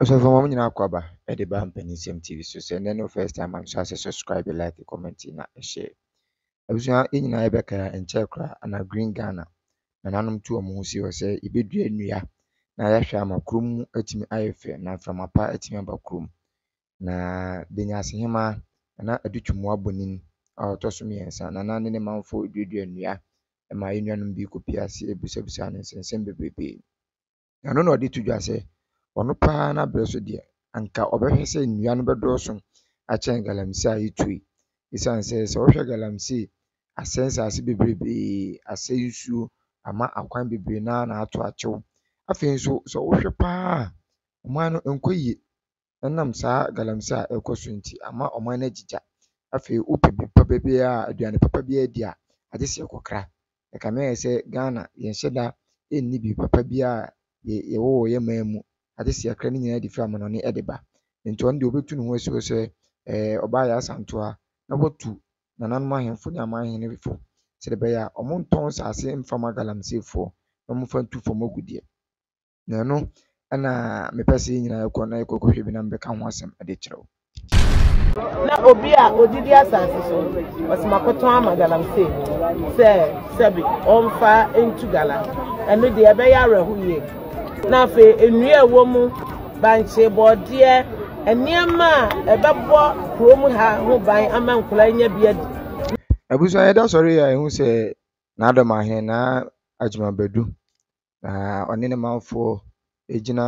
Osofo mom nyina kɔ aba de ba mpanisɛm TV so sɛ nɛ ne wo first time a mesrɛ sɛ subscribe like comment na share abusua yɛ nyina yɛ bɛka yɛ nkyɛɛ koraa ana green Ghana nananom tu ɔmo ho si hɔ sɛ yɛ bɛ dua nnua na yɛ hwɛ ama kurom mu atumi ayɛ fɛ na mframa pa atumi aba kurom na Benyase hemaa nana Adu Twumua Bonin a ɔtɔ so mmiɛnsa nana ne ne manfo duadua nnua ma yɛ nuanom bi kɔ pie ase busabusa ne nsɛnsɛm bebrebee. Ɛno na ɔde to dwa sɛ, ɔno pa ara n'abrɛ so deɛ, anka ɔbɛhwɛ sɛ nnua no bɛdɔɔso akyɛn galamsey a ɛretu yi. Esiane sɛ, sɛ wohwɛ galamsey a, asɛe nsaase bebrebee, asɛe nsuo, ama akwan bebree no ara na ato akyew. Afei nso, sɛ wohwɛ pa ara a, ɔman no nkɔ yie. Ɛnam saa galamsey a ɛrekɔ so nti ama ɔman no agye gya. Afei wopɛ biribi papa biara a, aduane papa biara di a, agye sɛ yɛkɔkra. Ɛkame ayɛ sɛ Ghana, yɛnhyɛ da nni biribi papa biara a yɛwɔ wɔ yɛn man mu, agye sɛ yɛkra ne nyinaa de firi amanɔne de ba. Nti ɔno deɛ ɔbɛtu ne ho asi hɔ sɛ ɛɛ ɔbaa yɛ asantewa na watu nananom ahemfo ne aman hene fo sɛdeɛ ɛbɛyɛ a wɔntɔn nsase mfa mma galamseyfoɔ na wɔmfa ntu fam agudeɛ. na ɛno na mepɛ sɛ yɛn nyinaa kɔ na yɛkɔ kɔhwɛ bi na mebɛka ho asɛm de kyerɛ wo. na obi a odidi asase so ɔsɛ makɔtɔn ama galamsey sɛ sɛbi ɔmfa ntu gala ɛno deɛ ɛbɛyɛ awerɛho yie na afei nnua ɛwɔ mu bankye bɔɔdeɛ nneɛma a ɛbɛbɔ kurom ha ho ban ama nkwadaa nya bi adi abusua yɛda sɔre a ɛhu sɛ n'adɔm ahene na adwuma bɛdu na ɔne ne manfoɔ gyina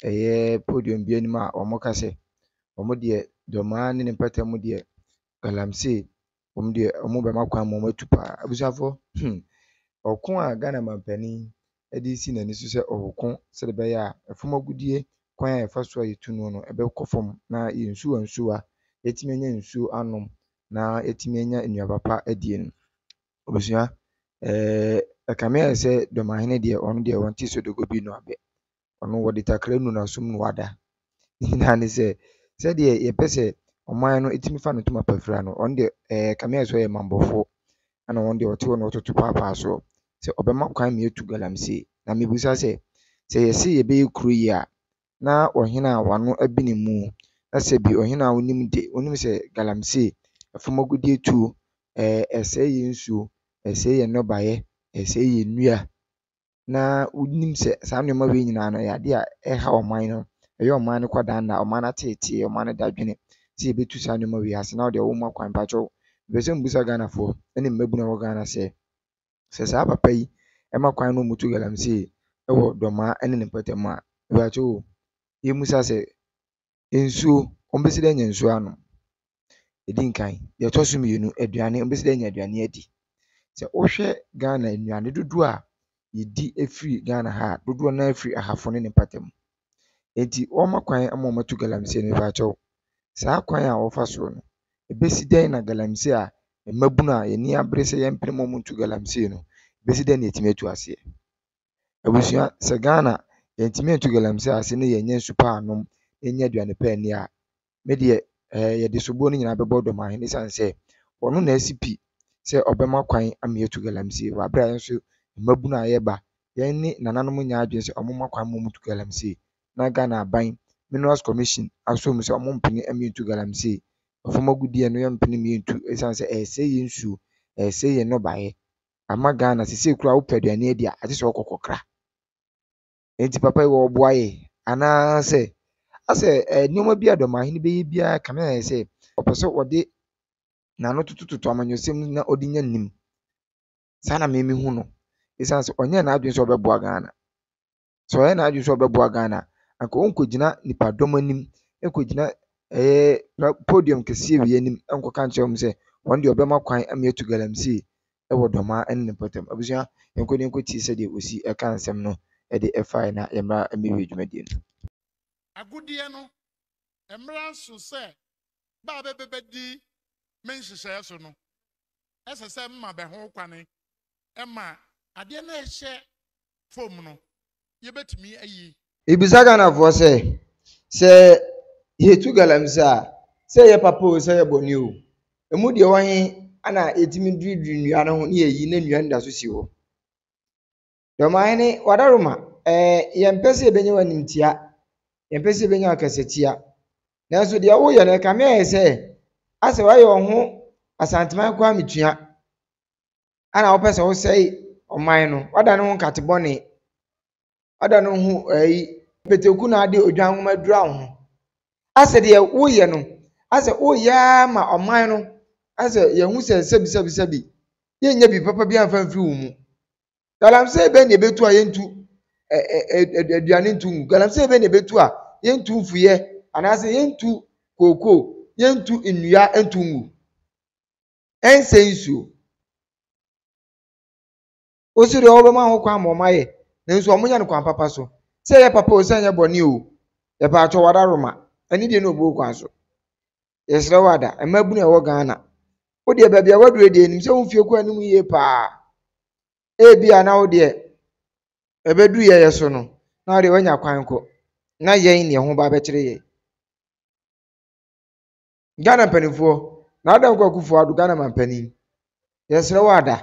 ɛyɛ podium bi anim a wɔka sɛ, wɔn deɛ Dɔmaa ne ne mpata mu deɛ Galamsey wɔn deɛ wɔbɛma kwan ma wɔatu pa ara. Abusuafoɔ hmm, ɔko a Ghana mampanin de resi n'ani so sɛ ɔreko sɛdeɛ ɛbɛyɛ a ɛfam agudeɛ kwan a yɛfa so a yɛtu no no ɛbɛkɔ fam na yɛn nsuwa nsuwa yɛatumi anya nsuo anom na yɛatumi anya nnuaba pa adie no. Ebusua, ɛɛ ɛkame ayɛ sɛ Dɔmahene deɛ ɔno deɛ ɔnte Sodogo bi no abɛ. Ɔno wɔde takra nu n'asom na wada. Ne nyinaa ne sɛ, sɛdeɛ yɛpɛ sɛ ɔman no tumi fa no tom apafira no, ɔno deɛ ɛɛ ɛkame ayɛ sɛ ɔyɛ mambofoɔ, ɛna ɔno deɛ ɔte hɔ na ɔtoto paapaa soɔ sɛ ɔbɛma kwan ma yɛatu galamsey. Na mebisa sɛ, sɛ yɛse yɛbɛyɛ kuro yie a, na ɔhene a wano abi ne mu na sɛ bi ɔhene a wonim de wonim sɛ galamsey ɛfam agudeɛ tuo ɛɛ ɛsɛe yɛn nsuo ɛsɛe yɛn nnɔbaeɛ ɛsɛe yɛn nnua na wonim sɛ saa nnoɔma wei nyinaa no ɛyɛ adeɛ a ɛha ɔman no ɛyɛ ɔman no kwadannaa ɔman no ateetee ɔman no dadwene sɛ yɛbɛtu saa nnoɔma wei ase na wodeɛ womma kwan mpakyɛw mepɛ sɛ mebisa Ghanafoɔ ɛne mmabunu a ɛwɔ Ghana sɛ. Sɛ saa papa yi ma kwan na wɔtu galamsey wɔ dɔmmaa ne ne mpɔtam a, mpakyɛw o, yemmisa sɛ, nsuo, wɔbɛsi dɛn anya nsuo anom? Ɛdi nkan, deɛ ɛtɔ so mmienu, aduane, wɔbɛsi dɛn anya aduane adi? Sɛ wohwɛ Ghana nnuane dodoɔ a yɛdi firi Ghana ha a, dodoɔ no ara firi ahafo ne ne mpɔtam. Enti wɔma kwan ma wɔto galamsey no fa kyɛw. Saa kwan a wɔfa so no, ebesi dɛn na galamsey a mmabun a yɛn ani abere sɛ yɛmpene mu nto galamsey no, ebesi dɛn na yɛatumi atu aseɛ? Abusua, sɛ Ghana yɛntumi antu galamsey ase na yɛannya nsu pa annom, yɛannya aduane pa anni a, me deɛ ɛɛ yɛde soboɔ no nyinaa bɛbɔ Dɔmahene ɛsiane sɛ ɔno na asi pi sɛ ɔbɛma kwan ama yɛatu galamsey wɔ aberɛ a yɛn nso mmabunu a yɛba yɛn ne nananom nyɛ adwene sɛ wɔmma kwan mma wɔntu galamsey na Ghana aban Minerals Commission asɔ mu sɛ wɔmpene mmie ntu galamsey fam agudeɛ no yɛmpene mmie ntu ɛsiane sɛ ɛresɛe yɛn nsuo, ɛresɛe yɛn nnɔbaeɛ ama Ghana seisei koraa wopɛ aduane adi a agye sɛ wokɔ kɔkra. Enti papa yi ɔreboa yɛ anaasɛ asɛ nneɛma bi a ɔdɔmahene bɛyɛ biara kame ayɛ sɛ ɔpɛ sɛ ɔde n'ano totototo amanyɔsɛm mu na ɔde nya nim. Saa na me mehu no. Ɛsiane sɛ ɔnyɛ n'adwene sɛ ɔbɛboa Ghana. Sɛ ɔyɛ n'adwene sɛ ɔbɛboa Ghana a, anka ɔnkɔgyina nipadɔm anim nkɔgyina ɛyɛ podium kɛseɛ wei anim nkɔka nkyerɛ wɔn sɛ wɔn deɛ ɔbɛma kwan ama yɛatu galamsey wɔ dɔmaa ne ne mpɔtam. Abusua, yɛnkɔ na yɛnkɔtie sɛdeɛ ɔsi ka nsɛm no de faeɛ na yɛmmra mmɛwie dwumadie no. Agudeɛ no mmra nso sɛ bɛ a bɛbɛ bɛdi me nhyehyɛɛ so no, ɛsɛ sɛ mma bɛ ho kwane ma adeɛ no a ɛhyɛ fam no, yɛbɛtumi ayi. Yɛbisa Ghanafoɔ sɛ, sɛ yɛtu galamsey a, sɛ ɛyɛ papa oo, sɛ ɛyɛ bɔne oo, ɛmu deɛ ɛwɔ he na yɛtumi dwiridwiri nnua no ho na yɛyi na nnua no da so si hɔ? Deɛ Ɔmanhene Wadaroma, ɛɛ, yɛmpɛ sɛ yɛbɛnya w'animtia, yɛmpɛ sɛ yɛbɛnya w'akasatia, nanso deɛ woyɛ no, ɛkame ayɛ sɛ asɛ woayɛ wo ho Asanteman Kwame Tua. ɛna wopɛ sɛ wosɛe ɔman no wadane ho nkate bɔne wadane ho ɛyi pɛtɛku na ade odwan nwoma adura wo ho asɛ deɛ woyɛ no asɛ woyɛ ma ɔman no asɛ yɛhu sɛ sɛbi sɛbi sɛbi yɛnyɛ bi papa bi amfa mfiri wo mu galamsey bɛn na ɛbɛtu a yɛntu aduane ntu ngu galamsey bɛn na ɛbɛtu a yɛntu mfuyɛ anaasɛ yɛntu kookoo yɛntu nnua ntu ngu ɛnsɛ nsuo. Wo so deɛ wɔbɛma ho kwan ma wɔayɛ nanso wɔnyɛ no kwan papa so. Sɛ ɛyɛ papa o sɛ ɛnyɛ bɔne o, yɛpɛ atɔ wada roma. Ɛne deɛ na ɔbuo kwan so. Yɛsrɛ wo ada, mmabunu a ɛwɔ Ghana, wo deɛ baabi a woaduru deɛ nim sɛ wo mfie kɔ anim yie paa. Ebi a na wo deɛ ɛbɛduru yɛyɛ so no, na wo deɛ woanya kwan kɔ. Na yɛn na ɛho ba bɛkyere yɛn. Ghana mpanimfoɔ, Nana Dankwa Akufo Addo Ghana manpanin, yɛsrɛ wo ada,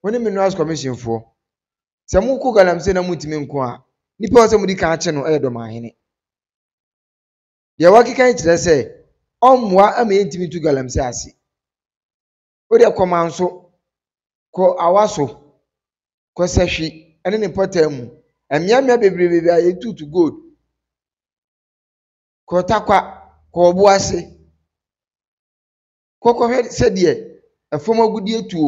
wo ne Minerals Commission foɔ, sɛ mokɔ galamsey na montumi nko a, nipa a ɔsɛ modi kan akye no yɛ Dɔmanhene. Deɛ wakeka yi kyerɛ sɛ ɔmmoa ama yɛntumi ntu galamsey ase. Wodeɛ kɔ Manso, kɔ Awaso, kɔ Sɛhwi ne ne mpɔtaa mu, mmeammea bebrebe a yɛtutu gold, Korotakwa, kɔ ɔbo ase. Kɔ kɔhwɛ sɛdeɛ ɛfam agudeɛ tuo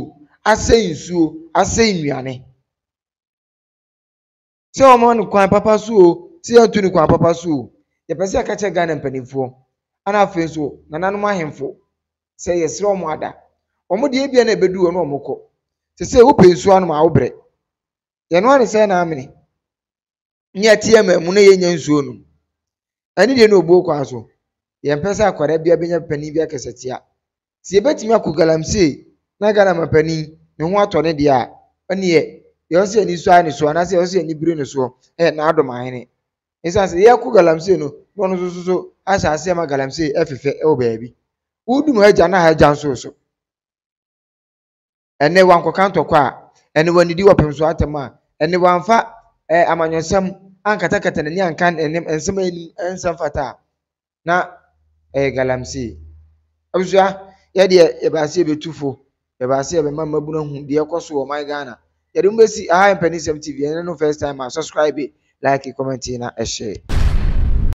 asɛe nsuo, asɛe nnuane. Sɛ wɔmma no kwan papa so o, sɛ yɛnto no kwan papa so o, yɛpɛ sɛ yɛka kyerɛ Ghana mpanimfoɔ ɛna afei nso nananom ahemfo sɛ yɛsrɛ wɔn ada. Wɔn deɛ ebia na ɛbɛduru hɔ na wɔkɔ. Seesei wopɛ nsuo anom a wobrɛ. Yɛn ara ne sɛn na amene. ne yɛte yɛn man mu na yɛnnya nsuo nom. Ɛne deɛ na ɔbuo kwan so. Yɛmpɛ sɛ akwadaa biara bɛnya panin bi akasatia. Sɛ yɛbɛtumi akɔ galamsey na Ghana mampanin ne ho atɔ no deɛ a, ɛnneɛ deɛ ɛwɔ sɛ yɛn ani sɔ ara ne soɔ anaasɛ ɛwɔ sɛ yɛn ani bere ne soɔ yɛ Nana Adom Ahene. Ɛsiane sɛ yɛrekɔ galamsey no na ɔno nso so ahyɛ aseɛ ma galamsey fefɛ wɔ baabi. Wodum ha gya na ha gya nso so. ɛnnɛ wankɔka ntɔkwa a, ɛnnɛ wannidi wɔ pɛmsoɔ atɛm a, ɛnnɛ wamfa ɛɛ amanyɔsɛm ankatakata n'ani anka ɛnne nsɛm a ɛnni ɛnsɛm fata a, na ɛyɛ galamsey. Abusua, yɛ deɛ yɛba ase yɛbɛtu fo, yɛba ase yɛbɛma mmabunu ahu deɛ ɛkɔ so wɔ ɔman Ghana. Yɛde mo bɛsi aha Mpanisɛm TV, ɛnnɛ no first time a, subscribe, like, comment na share.